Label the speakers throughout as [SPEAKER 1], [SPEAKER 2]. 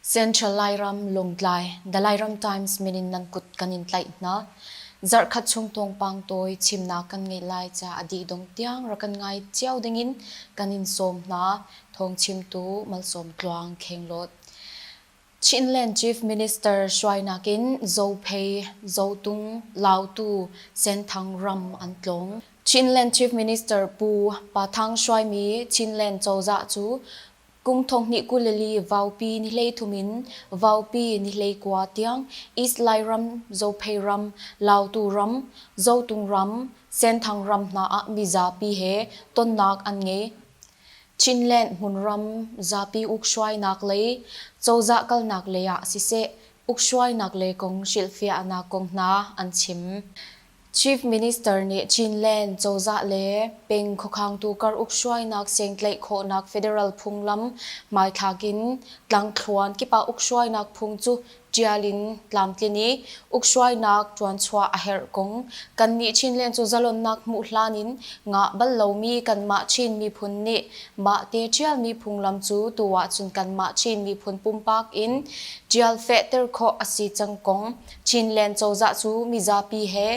[SPEAKER 1] Central Lairam Lungtlai The Lairam Times minin nan kut kan in tlaih hna zarkhat chung tawngpang toi chimna kan ngei lai cha adi dong tiang rakan ngai chiao dingin kan in som hna thong chimtu malsom tluang kheng lot Chinland Chief Minister hruainak in Zophei, Zotung, Lautu, Senthang ram an tlawng. Chinland Chief Minister Pu Pa Thang hruaimi Chinland cozah cu kum thonghnih kuleli Vaupi nihleithum in Vaupi nihleikua tiang East Lairam, Zophei ram, Lautu ram, Zotung ram, Senthang ram hna ah mizapi he tonnak an ngei. Chinland hmunram zapi ukhruainak lei, cozah kalnak lei ah siseh, ukhruainak lei kong hrilhfiahnak kong hna an chim. Chief Minister nih Chinland cozah le peng khuakhangtu kar ukhruainak sengtlaih khawhnak federal phunglam hmaithlak in tlangthluan kip ah ukhruainak phung cu ṭial in tlamtlin i ukhruainak ṭuanchuah a herh kong kannih Chinland cu zalonnak hmuh hlan in ngah bal lomi kanmah Chin miphun nih mahte ṭialmi phunglam cu tu ahcun kanmah Chin miphun pumpak in ṭial fehter khawh a si cang kong Chinland cozah cu mizapi he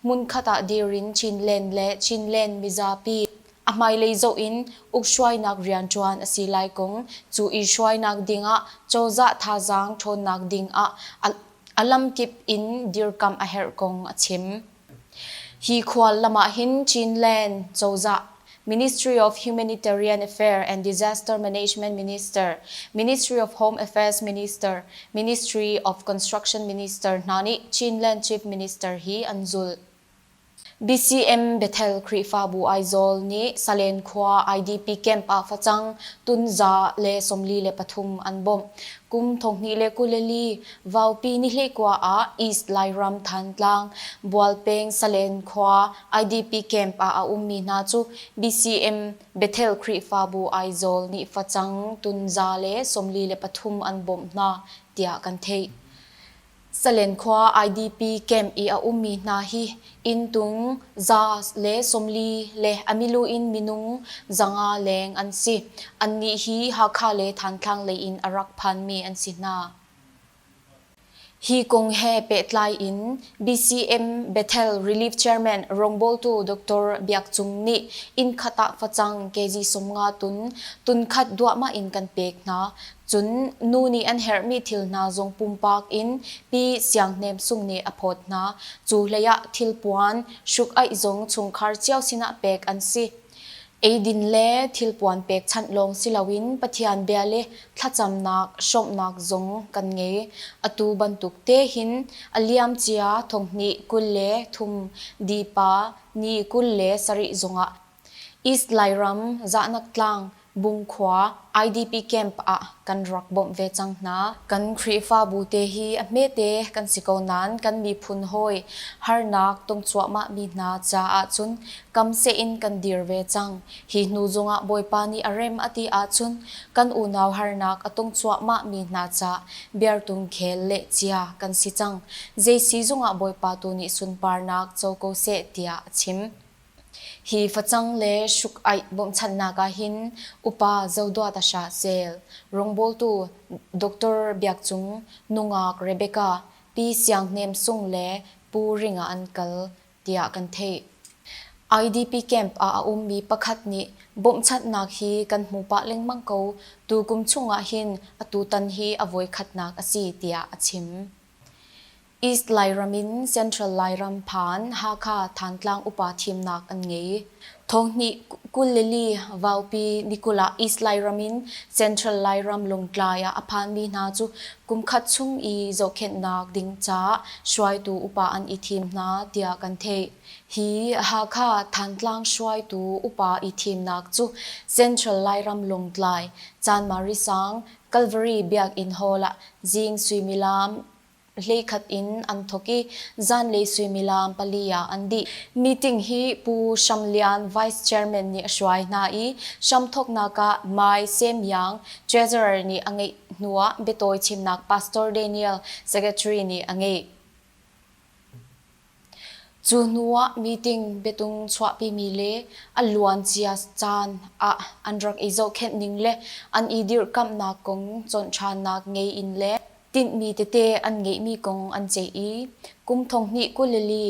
[SPEAKER 1] hmunkhat ah dir in Chinland le Chinland mizapi A hmailei zoh in ukhruainak rianṭuan a si lai kong, cu i hruainak ding ah cozah thazaang ṭhawnnak ding ah a lamkip in dirkamh a herh kong a chim. Hi khuallam ah hin Chinland cozah, Ministry of Humanitarian Affairs and Disaster Management Minister, Ministry of Home Affairs Minister, Ministry of Construction Minister hna nih Chinland Chief Minister hi an zulh. BCM Bethel Khrihfabu Aizawl nih Salen khua IDP camp ah facang, tunza le sawmli le pathum an bawmh. Kum thonghnih le kuleli vaupi nihleikua ah East Lairam Thantlang, Bual peng Salen khua IDP camp ah a ummi hna cu BCM Bethel Khrihfabu Aizawl nih facang, tunza le sawmli le pathum an bawmh hna tiah kan theih. Salen khua IDP camp i a ummi hna hi inn tung za le sawmli le a milu in minung zanga leng an si. Annih hi Hakha le Thantlang lei in a rak phanmi an si hna. Hi kong he pehtlai in BCM Bethel Relief Chairman rawngbawltu Dr. Biak Cung nih inn khat ah facang kg sawmnga tun, tun khat duahmah in kan pek hna. Cun nu nih an herhmi thil hna zong pumpak in Pi Siang Hnem Sung nih a phawt hna. Cu hleiah thilpuan, hruk-aih zong chungkhar cio sinah pek an si. Eidin le thilpuan pekchanh lawng si loin Pathian bia le thlacamnak, hrawmhnak zong kan ngei. Atu bantuk te hin a liamcia thonghnih kul le thum, Dipa ni kul le sarih zongah East Lairam, Zahnak Tlang, Bung khua, IDP camp ah kan rak bawmh ve cang hna. Kan Khrihfabu te hi a hmete kan si ko nain kan miphun hawi harnak tong cuahmahmi hna caah cun kam seh in kan dir ve cang. Hi hnu zongah Bawipa nih a rem a ti ahcun kan unau harnak a tong cuahmahmi hna ca biartung khel le cia kan si cang. Zei si zongah Bawipa tu nih sunparnak co ko seh tiah a chim. Hi facang le hruk-aih bawmhchanhnak ah hin Upa Zodua Tasha Cell, rawngbawltu Doctor Biak Cung, nungak Rebecca, Pi Siang Hnem Sung le Pu Ring ah an kal, tiah kan theih. IDP camp ah a ummi pakhat nih bawmhchanhnak hi kan hmu pah lengmang ko, tukum chung ah hin atutan hi a voikhatnak a si, tiah a chim. East Lairam in Central Lairam phan Hakha Thantlang upa thimnak an ngei. Thawhnih kul le li vaupi nikul ah East Lairam in Central Lairam Lungtlai ah a phanmi hna cu kumkhat chung i zohkhenhnak ding caah hruaitu upa an i thim hna tiah kan theih. Hi Hakha Thantlang hruaitu upa i thimnak cu Central Lairam Lungtlai, Chanmari Sang, Calvary Biakinn Hall ah zing suimilam hleikhat in an thawk i zanlei suimilam pali ah an dih. Meeting hi Pu Sham Lian, Vice Chairman nih a hruai hna i hramthawknak ah Mai Sem Yang, Treasurer nih a ngeih hnu ah biatawi chimnak Pastor Daniel, Secretary nih a ngeih. Cu hnuah meeting biatung chuahpimi le a luancia caan ah an rak i zohkhenh ning le an i dirhkamhnak kong cawn ṭhannak ngei in le tinhmi tete an ngeihmi kong an ceih i kum thonghnih kuleli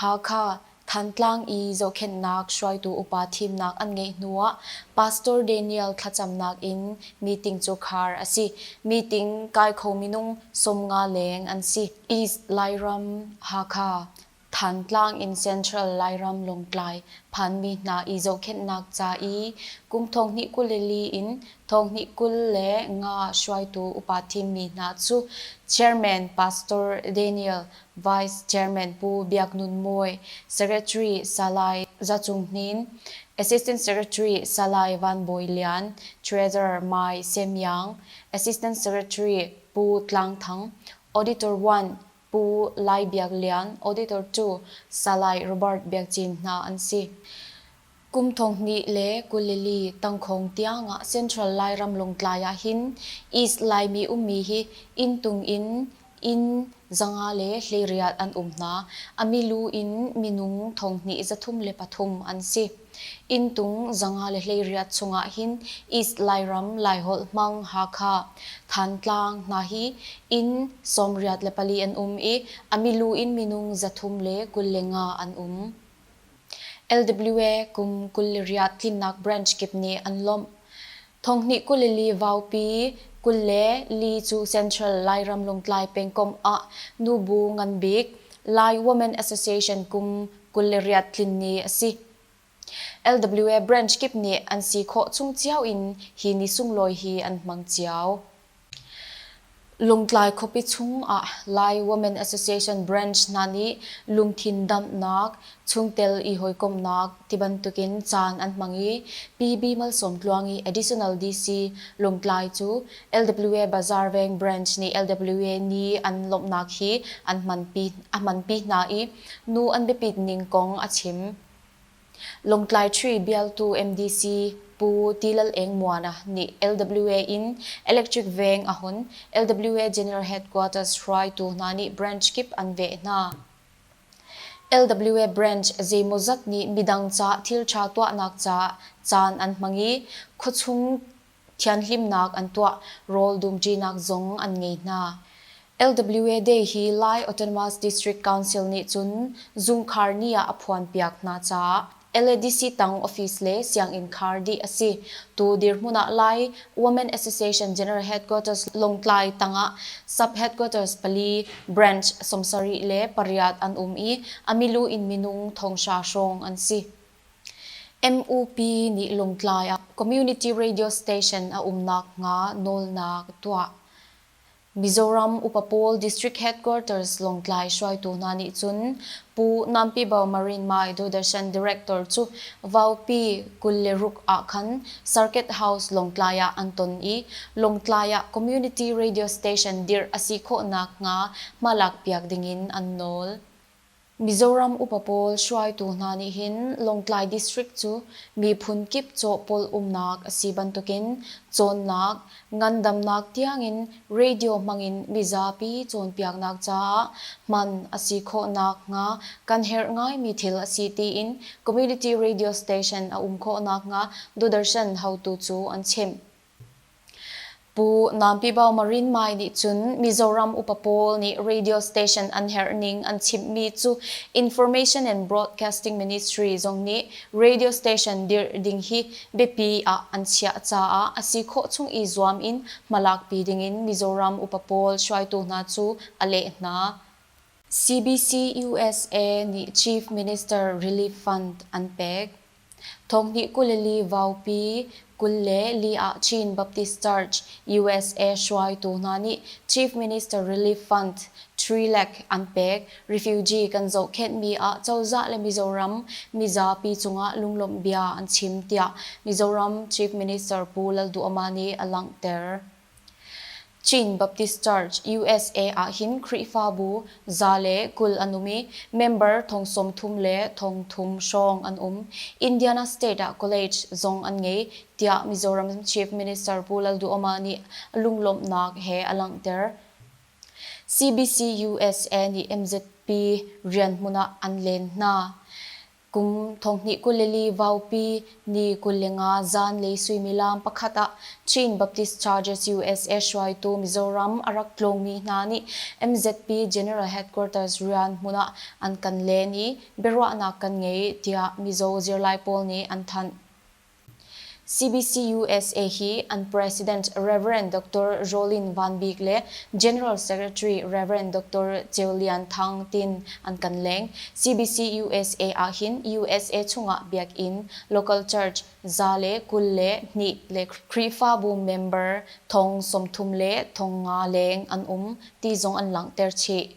[SPEAKER 1] Hakha Thantlang i zohkhenhnak hruaitu upa thimnak an ngeih hnuah Pastor Daniel thlacamnak in meeting cu khar a si. Meeting kai kho minung sawmnga leng an si. East Lairam, Hakha, Thantlang in Central Lairam Lawngtlai phanmi hna i zohkhenhnak ca i kum thonghnih kulili in thonghnih kul le nga hruaitu upa thimmi hna cu Chairman Pastor Daniel, Vice Chairman Pu Biak Nun Mawi, Secretary Salai Za Cung Hnin, Assistant Secretary Salai Van Bawi Lian, Treasurer Mai Sem Yang, Assistant Secretary Pu Tlang Thang, Auditor one, Pu Lai Biak Lian, Auditor two, Salai Robert Biak Cin hna an si. Kum thonghnih le kulili tangkhawng tiangah Central Lairam Lawngtlai ah hin East Laimi ummi hi inntung in inn zanga le hleirial an um hna. A milu in minung thonghnih zathum le pathum an si. Inntung zanga le hleiriat chungah hin East Lairam, Laiholh hmang Hakha, Thantlang hna hi inn sawmriat le pali an um i a milu in minung zathum le kul le nga an um. LWA kum kul le riat tlinnak branch kip nih an lawmh. Thonghnih kul i li vaupi kul le li cu Central Lairam Lungtlai pengkomh ah nubu nganbik Lai Women Association kum kul le riat tlin ni a si. LWA branch kip nih an si khawh chung cio in hi ni sunglawi hi an hmang cio. Lungtlai khuapi chungah Lai Women Association branch hna nih lungthin damhnak, chungtel i hawikomhnak tibantukin caan an hmang i Pi B. Malsawmtluangi Additional DC Lungtlai cu LWA Bazaar Veng branch nih LWA nih an lawmhnak hi a hmanpi hna i nu an biapit ning kong a chim. Lawngtlai Tree bialtu MDC Pu Ti Lal Eng Muana nih LWA in electric veng a hun LWA General Headquarters hruaitu hna nih branch kip an veh hna. LWA branch zeimawzat nih midang ca thilṭha tuahnak caah caan an hmang i khuachung thianhlimnak an tuah, rawl dumṭinak zong an ngei hna. LWA Day hi Lai Autonomous District Council nih cun zungkhar ni ah a phuanpiak hna caah LADC tang office le sianginn khar dih a si. Tu dirhmun ah Lai Women Association General Headquarters Lawngtlai tangah Sub-Headquarters pali, branch, sawmsarih le pariat an um i a milu in minung thonghra hrawng an si. MUP nih Lungtlai ah community radio station a umnak hnga nawlnak a tuah. Mizoram upa pawl district headquarters Longtlai hruaitu hna nih cun Pu Nampibau Marin Mai Dodarshan director cu Vaupi kul le ruk ah khan Circuit House Longtlai ah an ton i Longtlai ah community radio station dirh a si khawhnak hnga hmalak piak ding in an nawl. Mizoram upa pawl hruaitu hna nih hin Lawngtlai District cu miphun kip cawhpolh umnak a si bantukin cawnnak, ngandamnak tiangin radio hmangin mizapi cawnpiaknak caah hman a si khawhnak hnga kan herh ngaimi thil a si tiin Community Radio Station a um khawh nakhnga Dodarshan haotu cu an chimh. Pu Nampi Bao Marinmai nih cun Mizoram upa pawl nih radio station an herh ning an chimhmi cu Information and Broadcasting Ministry zong nih radio station dirh ding hi biapi ah an chiah caah a si khawh chung i zuam in hmalakpi dingin Mizoram upa pawl hruaitu hna cu a leh hna. CBC USA nih Chief Minister Relief Fund an pek. Thawhnih kul li vaupi kul le li ah Chin Baptist Church, usa hruaitu hna nih Chief Minister Relief Fund, Three Lakh, an pek. Refugee kan zohkhenhmi ah cozah le Mizoram mizapi cungah lunglawmh bia an chim, tiah Mizoram Chief Minister Pu Lalduhoma nih a langhter. Chin Baptist Church, usa ahhin Khrihfabu za le kul an um i member thong sawmthum le thong thum hrawng an um. Indiana State ah college zong an ngei, tiah Mizoram Chief Minister Pu Lalduhoma nih lunglawmhnak he a langhter. CBC USA nih MZP rian hmun ah an len hna. Kum thonghnih kuleli vaupi ni kul le nga zanlei suimilam pakhat ah Chin Baptist Charges usa hruaitu Mizoram a rak tlawngmi hna nih MZP General Headquarters rian hmun ah an kan len i biaruahnak kan ngei tiah Mizo zirlai pawl nih an thanh. CBCUSA hi an President Rev. Doctor Jolin Van Bik le General Secretary Rev. Doctor Ceu Lian Thang tin an kan leng. CBCUSA ahhin usa chungah biakinn, local church, za le kul le hnih le Khrihfabu member thong sawmthum le thong nga leng an um ti zong an langhter chih.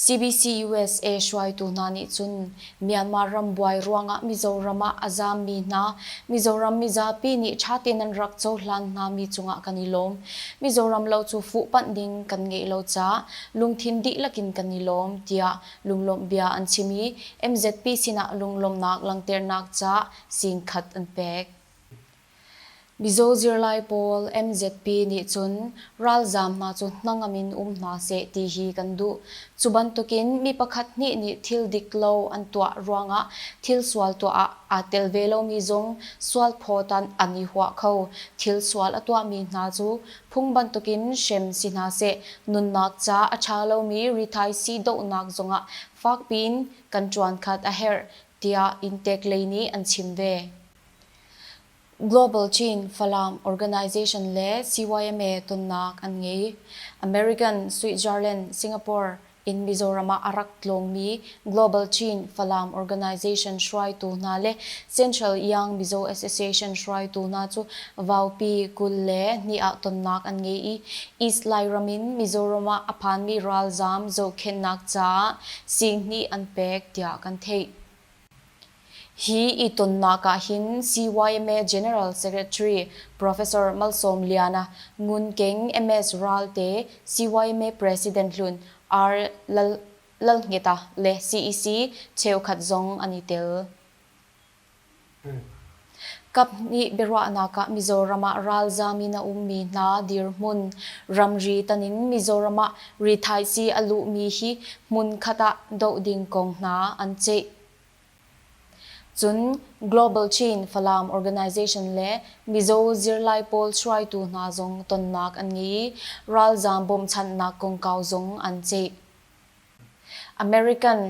[SPEAKER 1] CBC-USA hruaitu hna nih cun Myanmar ram buai ruangah Mizoram ah a zaammi hna Mizoram mizapi nih ṭha tein an rak cohlan hngami cungah kan i lawm. Mizoram lo cu fuhpanh ding kan ngeih lo caah lungthin dihlak in kan i lawm, tiah lunglawmh bia an chim i MZP sinah lunglawmhnak langhternak ca sing khat an pek. Mizaw zirlai pawl MZP nih cun ralzaam hna cu hnangam in um hna seh ti hi kan duh. Cu bantukin mi pakhat hnih nih thil dik lo an tuah ruangah thil sual tuah ah aa tel ve lomi zong sual phawtan an i huah kho. Thil sual a tuahmi hna cu phung bantukin hrem si hna seh, nunnak ca a ṭha lomi rithaisii dohnak zongah fakpiin kan ṭuan khat a herh, tiah Inntek lei nih an chim ve. Global Chin Falam Organization le CYMA tonnak an ngei. American, Switzerland, Singapore in Mizoram ah a rak tlawngmi Global Chin Falam Organization hruaitu hna le Central Yang Mizo Association hruaitu hna cu vaupi kul le hnih ah tonnak an ngei i East Lairam in Mizoram ah a phanmi ralzaam zohkhenhnak caah sing hnih an pek tiah kan theih. Hi itonnak ah hin CYMA General Secretary Professor Malsawmliana Ngun Keng MS Ralte, CYMA President hlun R. Lalngeta le CEC cheukhat zong an i tel. Kaphnih biaruahnak ah Mizoram ah ralzaam in a ummi hna dirhmun ramri tan in Mizoram ah rithaisii a luhmi hi hmunkhat ah doh ding kong hna an ceih. Cun Global Chin Falam Organization le Mizo zirlai pawl hruaitu hna zong tonnak an ngei i ralzaam bawmhchanhnak kongkau zong an ceih. American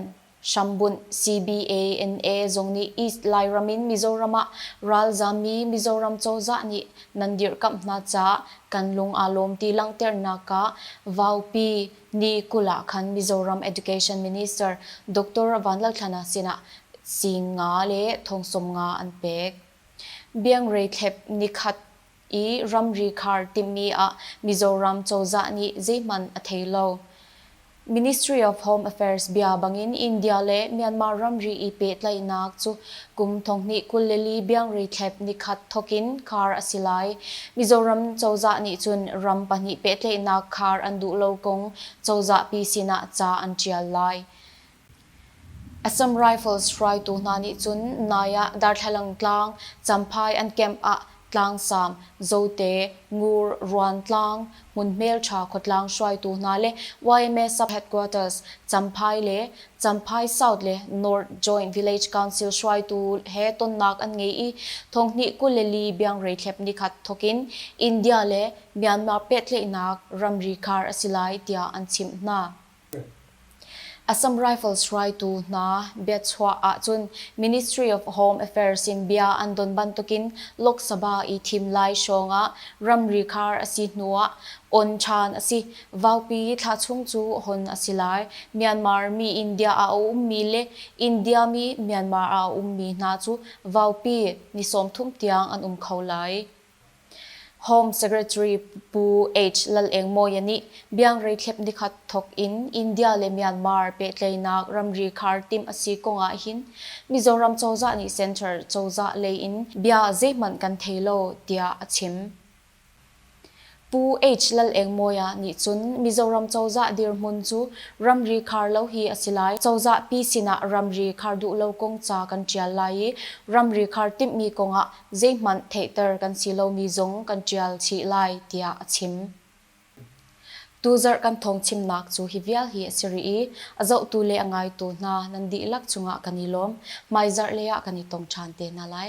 [SPEAKER 1] hrambunh CBANA zong nih East Lairam in Mizoram ah ralzaammi Mizoram cozah nih nan dirhkamh hna caah kan lung aa lawm ti langhternak ah Vaupi Ni kul ah khan Mizoram Education Minister Doctor Vanlalthana sinah sing nga le thong sawm nga an pek. Biangrei thlep nikhat i ramri khar timhmi ah Mizoram cozah nih zeihmanh a thei lo. Ministry of Home Affairs bia bangin India le Myanmar ramri i pehtlaihnak cu Kum thonghnih kul le li biangri thlep nikhat thawk in khar a si lai. Mizoram cozah nih cun ram pahnih pehtlaihnak khar an duh lo kong cozahpi sinah ca an ṭial lai. Assam Rifles hruaitu hna nih cun nai ah Darthlalangtlang, Champhai an camp ah Tlangsam, Zote, Ngur, Ruantlang, Hmun hmelṭha khuatlang hruaitu hna le yma sub-headquarters, Champhai le Champhai South le North Joint Village Council hruaitu he tonnak an ngei i thonghnih kul le li biangreithlep nikhat thokin India le Myanmar pehtlaihnak ramri khar a si lai tiah an chimh hna. Assam Rifles hruaitu hna biachuah ahcun Ministry of Home Affairs in bia an don bantukin Lok Sabha i thim lai hrawng ah ramri khar a si hnu ah on ṭhan a si. Vaupi thlahchung cu hon a si lai. Myanmar mi India ah a ummi le India mi Myanmar ah a ummi hna cu vaupi ni sawmthum tiang an um kho lai. Home Secretary Pu H. Lal Eng Mawia nih biangrei thlep nikhat thawk in India le Myanmar pehtlaihnak ramri khar timh a si kong ah hin Mizoram cozah nih Center cozah lei in bia zeihmanh kan thei lo, tiah a chim. Pu HLalengmawia nih cun Mizoram cozah dirhmun cu ramri khar lo hi a si lai. Cozah pi sinah ramri khar duh lo kong ca kan ṭial lai i ramri khar timhmi kongah zeihmanh theihter kan si lomi zong kan ṭial chih lai, tiah a chim. Tuzarh kan thawngchimnak cu hi vial hi a si rih i a zohtu le a ngaitu hna nan dihlak cungah kan i lawm. Hmaizarh lei ah kan i tong ṭhan te hna lai.